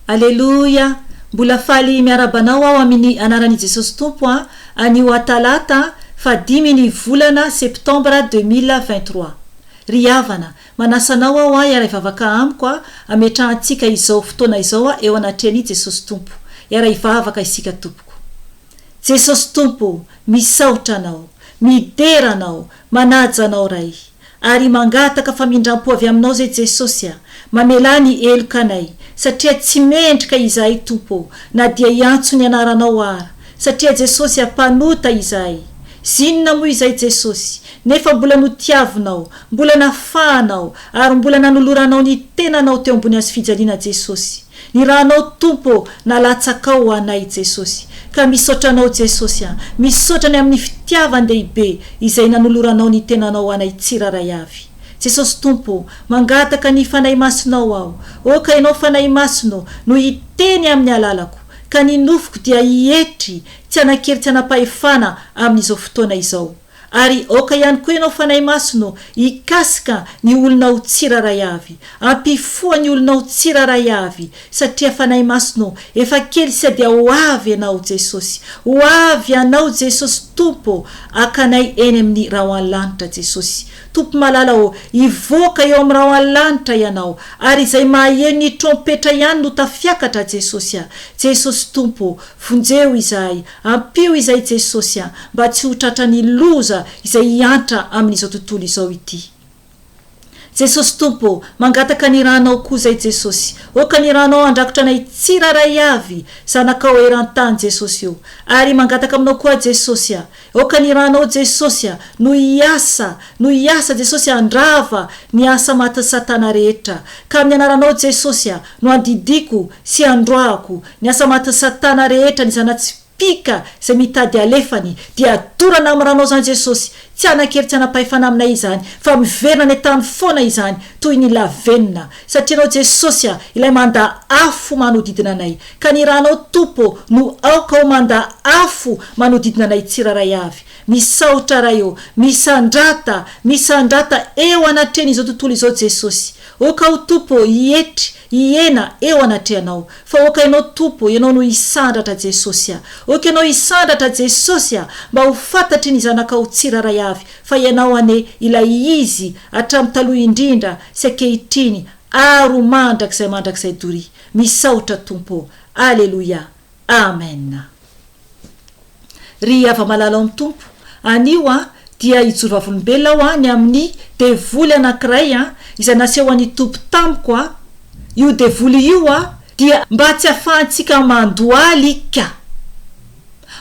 Aleloia! Mbola faly miaraba anao aho amini anaran'i Jesosy Tompo a! Anio a Talata faha dimy ny volana Septembre deux mille vingt trois. Ry havana, manasa anao aho a hiara hivavaka amiko a, ametrahantsika izao fotoana izao a eo anatrehan'i Jesosy Tompo. Hiara hivavaka isika tompoko. Jesosy Tompo o! Misaotra Anao. Midera Anao. Manaja Anao Ray. Ary mangataka famindram-po avy Aminao izay Jesosy a! Mamelà ny heloka anay, satria tsy mendrika izahay Tompo ô, na dia hiantso ny Anaranao ara, satria Jesosy a, mpanota izahay. Zinona moa izay Jesosy, nefa mbola notiavinao, mbola nafahanao, ary mbola nanoloranao ny tenanao teo ambony hazofijaliana Jesosy. Ny ra anao Tompo ô na latsakao ho anay Jesosy ka misaotra anao Jesosy a misaotra ny amin'ny fitiavan dehibe izay nanoloranao ny tenanao ho anay tsiraray avy Jesosy Tompo ô mangataka ny Fanahy Masinao aho ô ka ianao Fanahy Masina ô no hiteny amin'ny alalako ka ny nofoko dia hietry tsy hanan-kery tsy hanam-pahefana amin'izao fotoana izao Ary aoka ihany koa ianao Fanahy Masina ô, hikasika ny olonao tsirairay avy. Ampifoha ny olonao tsirairay avy, satria Fanahy Masina ô, efa kely sy dia ho avy Ianao Jesosy. Ho avy Ianao Jesosy Tompo ô, haka anay eny amin'ny Rao any Lanitra Jesosy. Tompo Malala ô, hivoaka eo amin'ny Rao any Lanitra Ianao, ary izay maheno ny trompetra ihany no tafiakatra Jesosy a. Jesosy Tompo ô, vonjeo izahay, Ampio izay Jesosy a, mba tsy ho tratran'ny loza izay hiantra amin'izao tontolo izao ity. Jesosy Tompo ô, mangataka ny ranao koa zay Jesosy, oka ny ranao handrakotra anay tsirairay avy, zanakao eran-tany Jesosy ô. Ary mangataka aminao koa Jesosy a, oka ny ranao Jesosy a, no hiasa, no hiasa Jesosy handrava ny asa matin'i Satana rehetra. Ka amin'ny anaranao Jesosy a, no andidiako sy androahako Ny asa matin'i Satana rehetra, ny zana-tsipìka izay mitady halefany, dia dorana amin'ny ranaozan'i Jesosy. Tsy hanan-kery tsy hanam-pahefana aminay izany, fa miverina any an-tany foana izany, toy ny lavenona. Satria Ianao, Jesosy, ilay mandà afo manodidina anay, ka ny Rànao, Tompo, no aoka ho mandà afo manodidina anay tsirairay avy. Misaotra, Ray ô. Misandrata, misandrata eo anatrehan'izao tontolo izao, Jesosy. Oka aho, Tompo ô, hietry, Hihena eo anatrehanao. Fa ok ianao Tompo ô, ianao no hisandratra Jesosy a. Ok ianao hisandratra Jesosy a, mba ho fantatry ny zanakao tsirairay avy fa ianao anie ilay izy hatramin'ny taloha indrindra sy ankehitriny ary ho mandrakizay mandrakizay Dory. Misaotra Tompo ô. Aleloia. Amen ry havamalala ao ny Tompo anio an dia hijoro vavolombelona aho an ny amin'ny devoly anankiray an izay nasehon'ny Tompo tamiko an io devoly io an dia mba tsy afahantsika mandohaly ka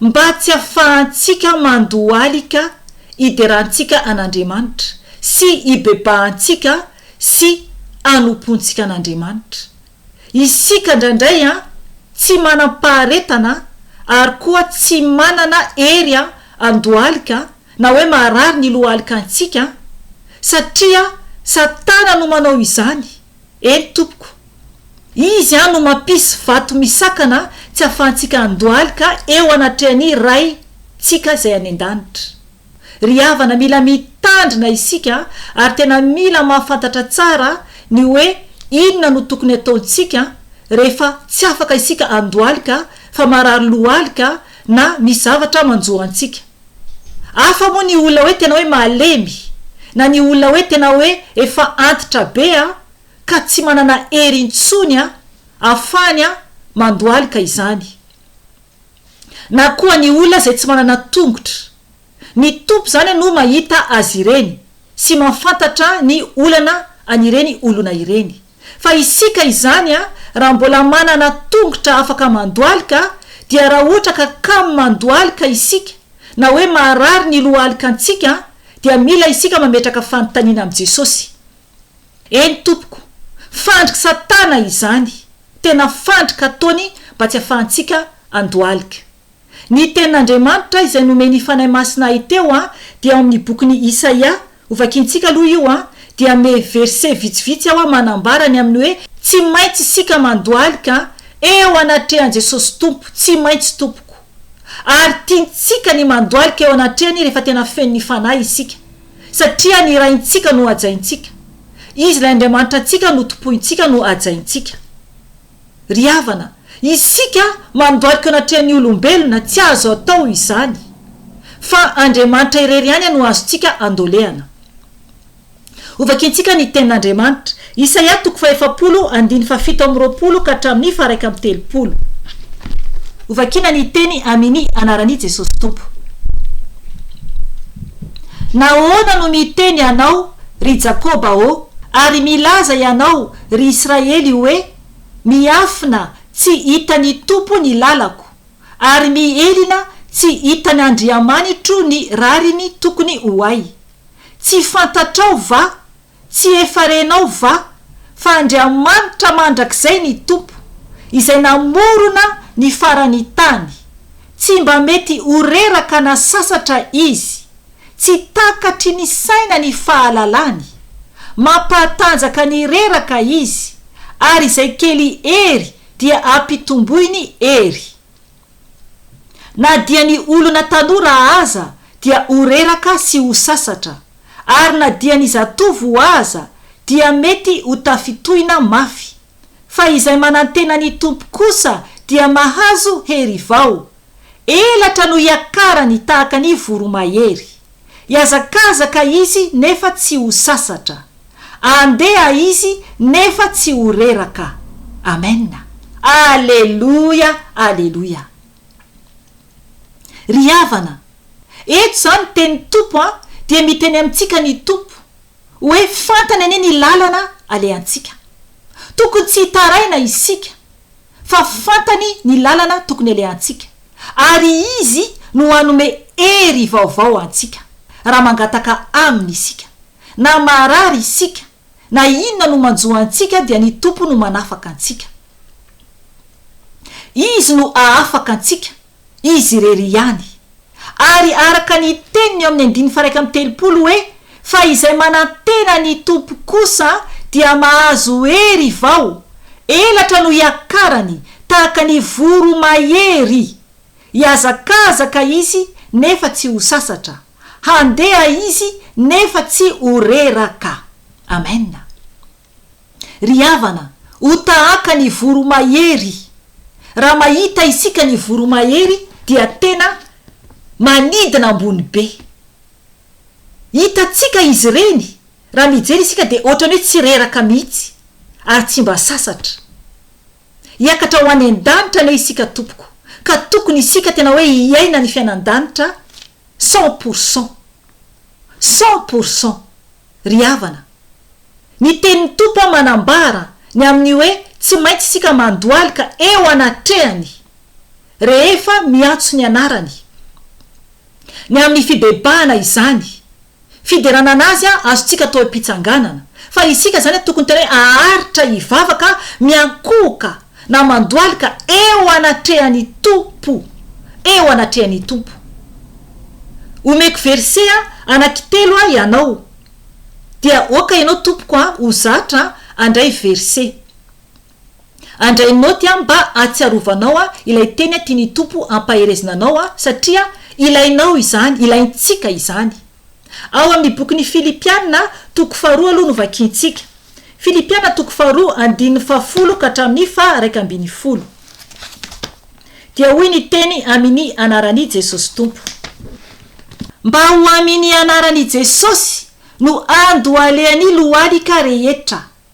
mba tsy afahantsika mandohaly ka hiderantsika an'Andriamanitra sy hibebahantsika sy hanompoantsika an'Andriamanitra Isika indraindray an, tsy manam-paharetana ary koa tsy manana hery an, handohalika na hoe maharary ny lohaloka antsika an, satria Satana no manao izany, eny tompoko. Izy an no mampisy vato misakana tsy ahafahantsika handohalika eo anatrehan'ny Ray ntsika Izay any an-danitra. Ry havana, mila mitandrina isika ary tena mila mahafantatra tsara ny hoe inona no tokony ataontsika rehefa tsy afaka isika andohalika fa marary lohalika na misy zavatra manjo antsika. Hafa moa ny olona hoe tena hoe malemy na ny olona hoe tena hoe efa antitra be ka tsy manana hery intsony ahafahany mandohalika izany. na koa ny olona izay tsy manana tongotra. Ny Tompo izany no mahita azy ireny sy mahafantatra ny olana an'ireny olona ireny. Fa isika izany raha mbola manana tongotra afaka mandohalika dia raha ohatra ka kamo mandohalika isika na hoe maharary ny lohalikantsika dia mila isika mametraka fanontaniana amin'i Jesosy. Eny tompoko, fandrik satana izany, tena fandrik ataony mba tsy afahantsika andohalika. Ny tenin Andriamanitra izay nomen i Fanahy Masina ahy teo a dia ao amin ny bokin i Isaia, hovakintsika aloha io a, dia ame verset vitsivitsy aho a manambara ny amin ny hoe tsy maintsy isika mandohalika eo anatrehan Jesosy Tompo, tsy maintsy tompoko. Ary tiantsika ny mandohalika eo anatrehany rehefa tena feno ny Fanahy isika. satria ny Raintsika no hajaintsika, Izy ilay Andriamanitra antsika no tompointsika no hajaintsika. Ry havana, isika mandohalika eo anatrehan'ny olombelona tsy azo atao izany, fa Andriamanitra irery ihany no azontsika andolehana. Hovakintsika ny Tenin'Andriamanitra, Isaia toko fahefapolo, andiny fahafito amby roapolo ka hatramin'ny faharaika amby telopolo. Hovakiana ny teny Amini anaran'i Jesosy Tompo. Nahoana no miteny ianao, ry Jakoba ô, ary milaza ianao, ry Israely hoe, Miafina, tsy hitan'ny Tompo ny lalako, ary mihelina, tsy hitan'Andriamanitro ny rariny tokony ho ahy? Tsy fantatrao va? Tsy efa renao va fa Andriamanitra mandrakizay ny Tompo, izay namorona ny faran'ny tany, tsy mba mety ho reraka na sasatra Izy, tsy takatry ny saina ny fahalalany, mampahatanjaka ny reraka Izy, ary izay kely hery dia ampitomboiny hery. Na dia ny olona tanora aza dia ho reraka sy ho sasatra, ary na dia ny zatovo aza dia mety ho tafitohina mafy, fa izay manantena ny Tompo kosa dia mahazo hery vao, elatra no hiakarany tahaka ny voromahery. Hiazakazaka izy nefa tsy ho sasatra. Andeha izy nefa tsy ho reraka. Amen. Aleloia, aleloia. Ry havana, eto izany tenin'ny Tompo an, dia miteny amintsika ny Tompo, hoe fantany anie ny lalana alehantsika. Tokony tsy hitaraina isika. fa fantany ny lalana tokony alehantsika, ary Izy no hanome hery vaovao antsika, raha mangataka Aminy isika. Na marary isika, na inona no manjo antsika dia ny Tompo no manafaka antsika. Izy no hahafaka antsika, Izy irery ihany. Ary araka ny teniny eo amin'ny andininy faharaika amby telopolo hoe, Fa izay manantena ny Tompo kosa dia mahazo hery vao, elatra no hiakarany tahaka ny voromahery. Hihazakazaka izy nefa tsy ho sasatra. Handeha izy nefa tsy ho reraka. Amena. Ry havana, ho tahaka ny voromahery. Raha mahita isika ny voromahery dia tena manidina ambony be. Hitantsika izy ireny, raha mijery isika dia ohatran'ny hoe tsy reraka mihitsy ary tsy mba sasatra. Hiakatra ho any an-danitra anie isika tompoko, ka tokony isika tena hoe hiaina ny fiainan-danitra, Cent pour cent! Cent pour cent! Ry havana! Ny tenin'ny Tompo an manambara ny amin'ny hoe tsy maintsy isika mandohalika eo anatrehany rehefa miantso ny anarany. Ny amin'ny fibebahana izany Fiderana an'Azy azontsika atao am-pitsanganana. Fa isika izany tokony tena hoe aharitra hivavaka miankohoka na mandohalika eo anatrehan'ny Tompo. Eo anatrehan'ny Tompo. Omeko verse anankitelo aho ianao. Dia aoka ianao tompoko an, ho zatra an, handray verse. Andray naoty aho mba ahatsiarovanao aho ilay teny tian'ny Tompo hampaherezina anao aho satria ilainao izany, ilaintsika izany. Ao amin'ny bokin'ny Filipiana toko faharoa aloha no vakiantsika. Filipiana toko faharoa andininy fahafolo ka hatramin'ny faha raika ambin'ny folo. Dia hoy ny teny amin'ny anaran'i Jesosy Tompo. Mba ho amin'ny anaran'i Jesosy no andohalehan'ny lohalika rehetra.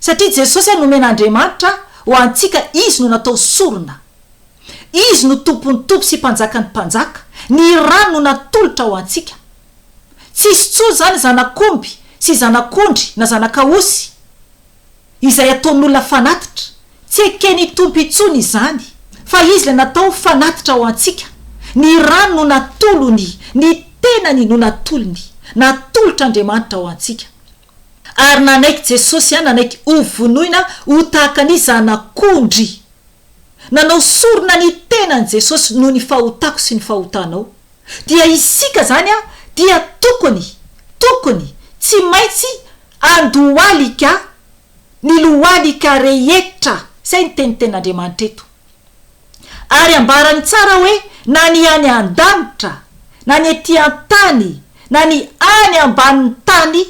Satria Jesosy ary nomen'Andriamanitra ho antsika Izy no natao sorona. Izy no Tompon'ny tompo sy Mpanjakan'ny mpanjaka, ny rany no natolotra ho antsika. Tsy hisy tsony izany zanak'omby sy zanak'ondry na zanak'aosy izay ataon'olona fanatitra. Tsy eken'ny Tompo intsony izany fa Izy ilay natao ho fanatitra ho antsika. Ny rany no natolony, ny tenany no natolony, natolotr'Andriamanitra ho antsika. Ary nanaiky Jesosy an, nanaiky ho vonoina ho tahaka ny zanak'ondry. Nanao sorona ny tenany Jesosy noho ny fahotako sy ny fahotanao. Dia isika izany an, dia tokony, tokony, tsy maintsy andohalika ny lohalika rehetra. Izay ny tenintenin'Andriamanitra eto. Ary ambarany tsara hoe na ny any an-danitra, na ny ety an-tany, na ny any ambanin'ny tany,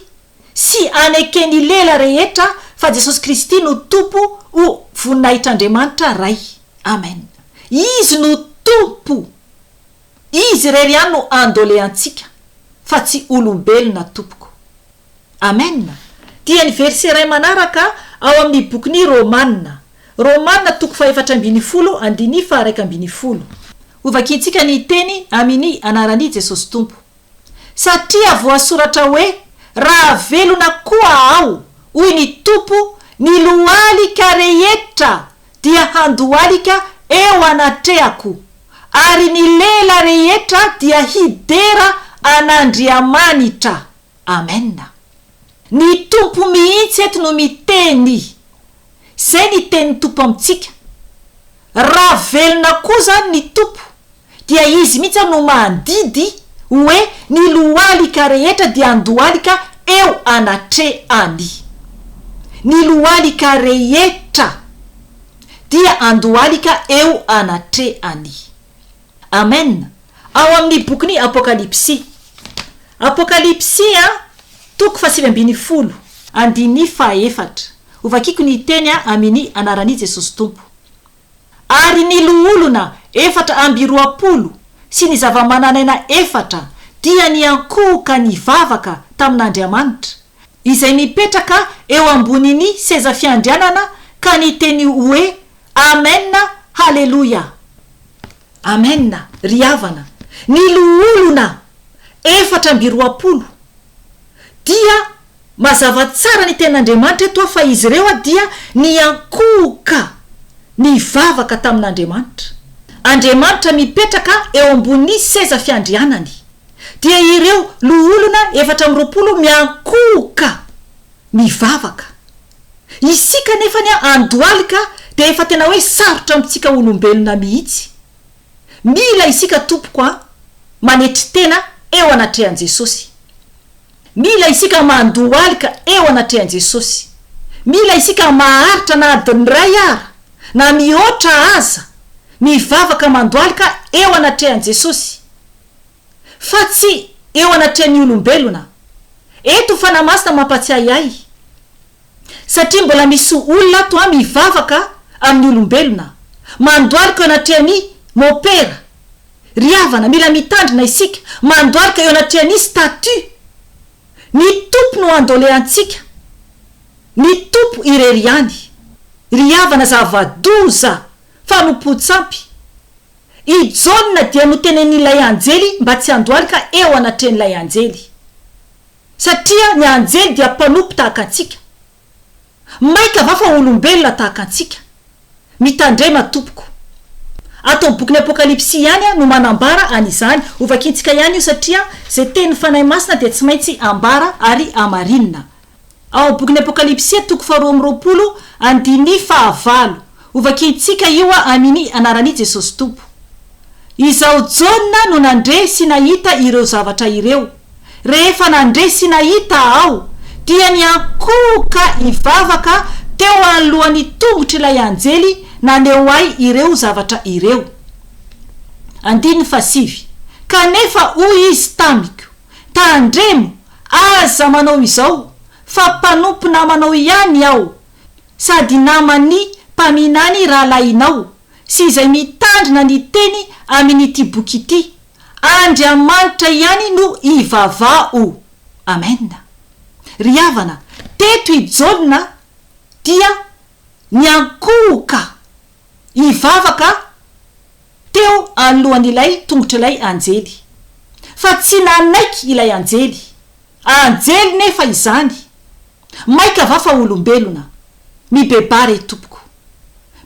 sy aneken'ny lela rehetra fa Jesosy Kristy no Tompo ho voninahitr'Andriamanitra Ray. Amen. Izy no Tompo. Izy irery ihany no andoleantsika fa tsy olombelona tompoko. Amen! Dia ny verset iray manaraka ao amin'ny bokin'i Romana. Romana toko fahefatra ambin'ny folo andinii faharaika ambin'ny folo. Hovakiantsika ny teny amin'i anaran'i Jesosy Tompo. Satria voasoratra hoe, Raha velona koa aho, hoy ny Tompo, ny lohalika rehetra dia handohalika eo anatrehako, ary ny lela rehetra dia hidera an'Andriamanitra. Amen. Ny Tompo mihitsy eto no miteny. Zay ny tenin'ny Tompo amintsika. Raha velona koa zany ny Tompo dia Izy mihitsy ary no mandidy hoe ny lohalika rehetra dia andohalika eo anatrehany. Ny lohalika rehetra dia andohalika eo anatrehany. Amen ao amin'ny bokin'i Apokalypsy Apokalypsy a toko fahasivy ambin'ny folo andininy fahaefatra Hovakiko ny hiteny a amini anaran'i Jesosy Tompo Ary ny loholona efatra amby roapolo sy ny zava-manan'aina efatra dia niankohoka nivavaka tamin'Andriamanitra izay mipetraka eo ambonin'ny seza fiandrianana ka niteny hoe Amen Haleloia Amen ry havana ny loholona efatra amby roapolo dia mazava tsara ny tenin'Andriamanitra eto fa izy ireo dia niankohoka nivavaka tamin'Andriamanitra Andriamanitra mipetraka eo ambony seza fiandrianany dia ireo loholona efatra amby roapolo miankohoka mivavaka Isika anefa anie andohalika dia efa tena hoe sarotra amintsika olombelona mihitsy. Mila isika tompoko an, manetry tena eo anatrehan'i Jesosy. Mila isika mandohalika eo anatrehan'i Jesosy. Mila isika maharitra na adiny iray ara, na mihoatra aza, mivavaka mandohalika eo anatrehan'i Jesosy. fa tsy eo anatrehan'ny olombelona. Eto Fanahy Masina mampatsiahy ahy, satria mbola misy olona ato an mivavaka amin'ny olombelona, mandohalika eo anatrehan'i Mopera. Ry havana, mila mitandrina isika, mandohalika eo anatrehan'ny statut. Ny Tompo no andoleantsika, ny Tompo irery ihany. Ry havana, zava-doza, fanompoan-tsampy. I Jaona dia notenenin'ilay anjely mba tsy handohalika eo anatrehan'ilay anjely, satria ny anjely dia mpanompo tahaka antsika. Mainka va fa olombelona tahaka antsika? Mitandrema tompoko. Ato amin'ny bokin'ny Apokalypsy ihany no manambara an'izany. Hovakintsika ihany io satria izay tenin'ny Fanahy Masina dia tsy maintsy ambara ary hamarinina. Ao amin'ny bokin'ny Apokalypsy, toko faharoa amby roapolo, andininy fahavalo. Hovakiantsika io amin'ny anaran'i Jesosy Tompo. Izaho Jaona no nandre sy nahita ireo zavatra ireo. Rehefa nandre sy nahita aho, dia niankohoka hivavaka teo anoloan'ny tongotr'ilay anjely naneho ahy ireo zavatra ireo. Andininy fahasivy, Kanefa hoy izy tamiko. Tandremo! Aza manao izao fa mpanompo namanao ihany aho sady naman'ny mpaminany rahalahinao sy izay mitandrina ny teny amin'ity boky ity. Andriamanitra ihany no ivavaho. Amen. Ry havana, teto i Jaona dia niankohoka hivavaka Teo anoloan'ilay tongotr'ilay anjely. Fa tsy nanaiky ilay anjely. Anjely nefa izany! Maika va fa olombelona? Mibebà re tompoko.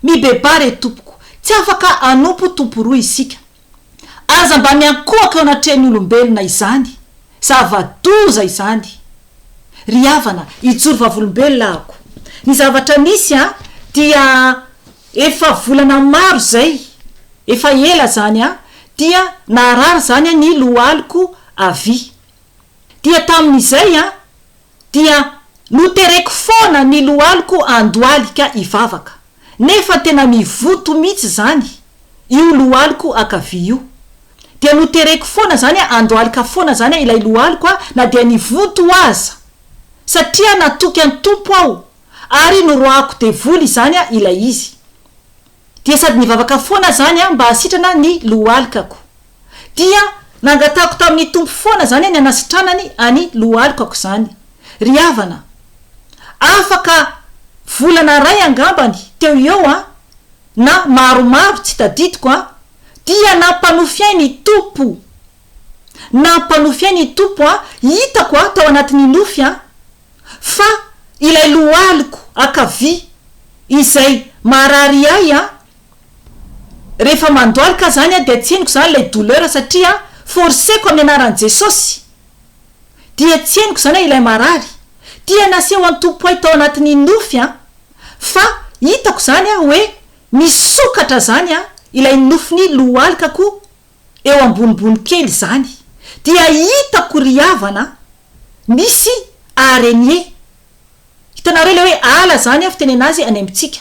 Mibebà re tompoko. Tsy afaka hanompo tompo roa isika. Aza mba miankohoka eo anatrehan'ny olombelona izany. Zava-doza izany. Ry havana, hijoro vavolombelona ahako. Ny zavatra misy dia. Efa volana maro zay, efa ela zany an, dia naharary zany an ny lohaliko avy. Dia tamin'izay an, dia notereko foana ny lohaliko andoaly ka hivavaka. Nefa tena mivoto mitsy zany io lohaliko akavia io. Dia notereko foana zany an, andoaly ka foana zany an ilay lohaliko an, na dia nivoto aza. Satria natoky an Tompo aho ary noroahako devoly izany ilay izy. Dia sady nivavaka foana izany aho mba hahasitrana ny lohalikako. Dia nangatahako tamin'ny Tompo foana izany ny hanasitranany an'i lohalikako izany. Ry havana, afaka volana iray angambany teo eo an, na maromaro tsy tadidiko an, dia nampanofy ahy ny Tompo. Nampanofy ahy ny Tompo an, hitako an, tao anatin'ny nofy an, fa ilay lohaliko ankavia izay maharary ahy an! rehefa mandoalika zany an dia tsy henoko zany ilay douleur satria forceko amin'ny anaran'i Jesosy dia tsy henoko zany an ilay marary dia naseho an'i Tompo ahy tao anatin'ny nofy an fa hitako zany an hoe misokatra zany an ilay nofin'ny lohalikako eo ambonimbony kely zany dia hitako ry havana Misy arenie. Hitanareo ilay hoe ala izany fitenena azy any amintsika.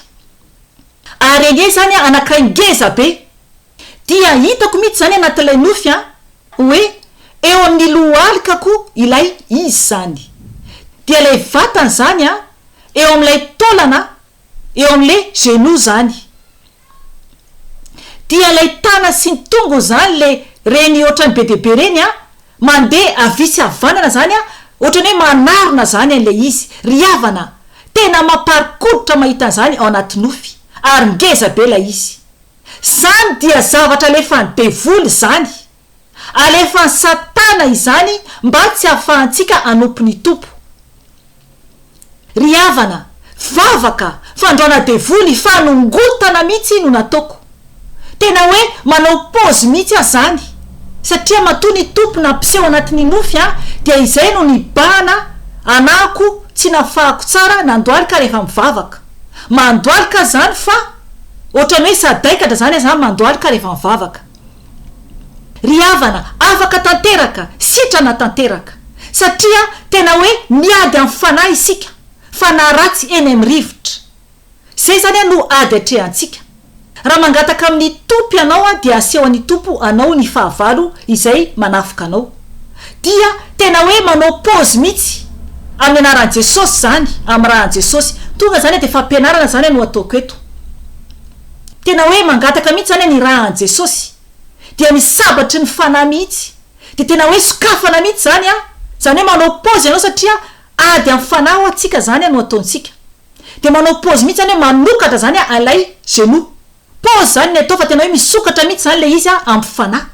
Arenie izany anankiray ngeza be. Dia hitako mihitsy izany anatin'ilay nofy hoe eo amin'ny lohalikako ilay izy izany. Dia ilay vatany izany eo amin'ilay taolana eo amin'ilay genoux izany. dia lay tana sy ny tongo zany le reny otrany be dia be reny a, mande avia sy avanana zany a, otrany hoe manarona zany anle izy, ry havana a, tena maparikoditra mahita anzany ao anaty nofy, ary ngeza be lay izy, zany dia zavatra alefany devoly zany. Alefan'i Satana izany mba tsy hahafahantsika hanompo ny Tompo. Ry havana, vavaka, fandroana devoly, fanongotana mihitsy no nataoko. Tena hoe manao pause mihitsy aho izany, satria matoa ny Tompo nampiseho anatin'ny nofy ahy dia izay no nibahana anahako tsy nafahako tsara nandohalika rehefa mivavaka. Mandohalika aho izany fa ohatran'ny hoe sadaikatra izany aho izany mandohalika rehefa mivavaka. Ry havana, afaka tanteraka, sitrana tanteraka. Satria tena hoe miady amin'ny fanahy isika, fanahy ratsy eny amin'ny rivotra. Izay izany no ady atrehantsika. Raha mangataka amin'ny Tompo ianao dia asehon'ny Tompo anao ny fahavalo izay manafika anao. Dia tena hoe manao pause mihitsy, amin'ny anaran'i Jesosy izany, amin'ny ran'i Jesosy. Tonga izany dia fampianarana izany no ataoko eto. tena hoe mangataka mihitsy zany hanirahan'i Jesosy dia ny sabatry ny fanahy mihitsy dia tena hoe sokafana mihitsy zany an, zany hoe manao pause ianao satria ady amin'ny fanahy hoa tsika zany an no ataontsika dia manao pause mihitsy zany hoe manokatra zany an ilay genoux, pause zany ny atao fa tena hoe misokatra mihitsy zany ilay izy an amin'ny fanahy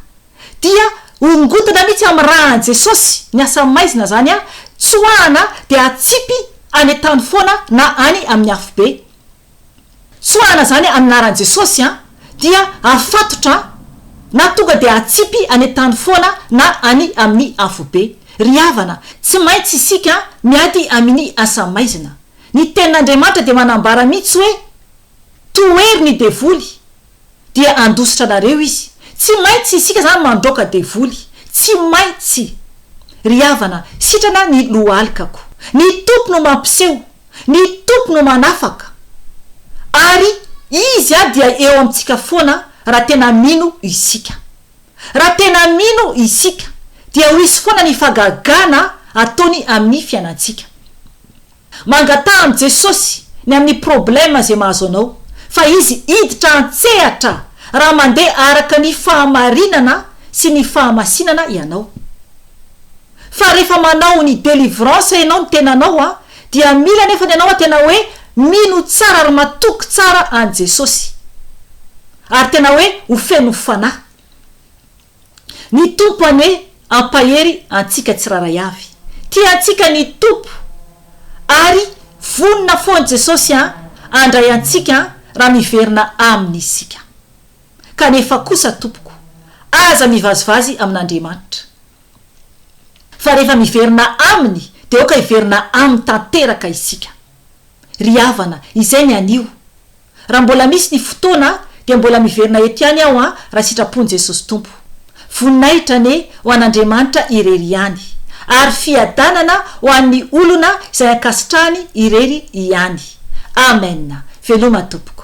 dia hongotana mihitsy amin'ny rahan'i Jesosy ny asa maizina zany an tsoahana dia atsipy any an-tany foana na any amin'ny afobe. tsoahana zany amin'ny anaran'i Jesosy an, dia afatotra na tonga dia atsipy any an-tany foana na any amin'ny afobe. Ry havana, tsy maintsy isika miady amini asa maizina. Ny tenin'Andriamanitra dia manambara mihitsy hoe, Tohery ny devoly. dia handositra anareo izy. Tsy maintsy isika izany mandroaka devoly. Tsy maintsy. Ry havana, sitrana ny lohalikako. Ny Tompo no mampiseho. Ny Tompo no manafaka. Ary Izy a dia eo amintsika foana raha tena mino isika. Raha tena mino isika, dia ho hisy foana ny fagagana ataony amin'ny fiainantsika. Mangataha amin'i Jesosy ny amin'ny problème izay mahazo anao fa Izy hiditra an-tsehatra raha mandeha araka ny fahamarinana sy ny fahamasinana ianao. Fa rehefa manao ny délivrance ianao ny tenanao a dia mila nefa ny anao a tena hoe mino tsara ary matoky tsara an'i Jesosy ary tena hoe ho feno fanahy. Ny Tompo anie ampahery antsika tsiraray avy. Tia antsika ny Tompo ary vonona foan Jesosy handray antsika raha miverina Aminy isika. Kanefa kosa tompoko, aza mivazivazy amin'Andriamanitra. Fa rehefa miverina Aminy dia aoka hiverina Aminy tanteraka isika. Ry havana, izay ny anio. Raha mbola misy ny fotoana dia mbola miverina eto ihany aho an raha sitrapon'i Jesosy Tompo. Voninahitra anie ho an'Andriamanitra irery ihany. Ary fiadanana ho an'ny olona izay ankasitrahany irery ihany. Amen. Veloma tompoko.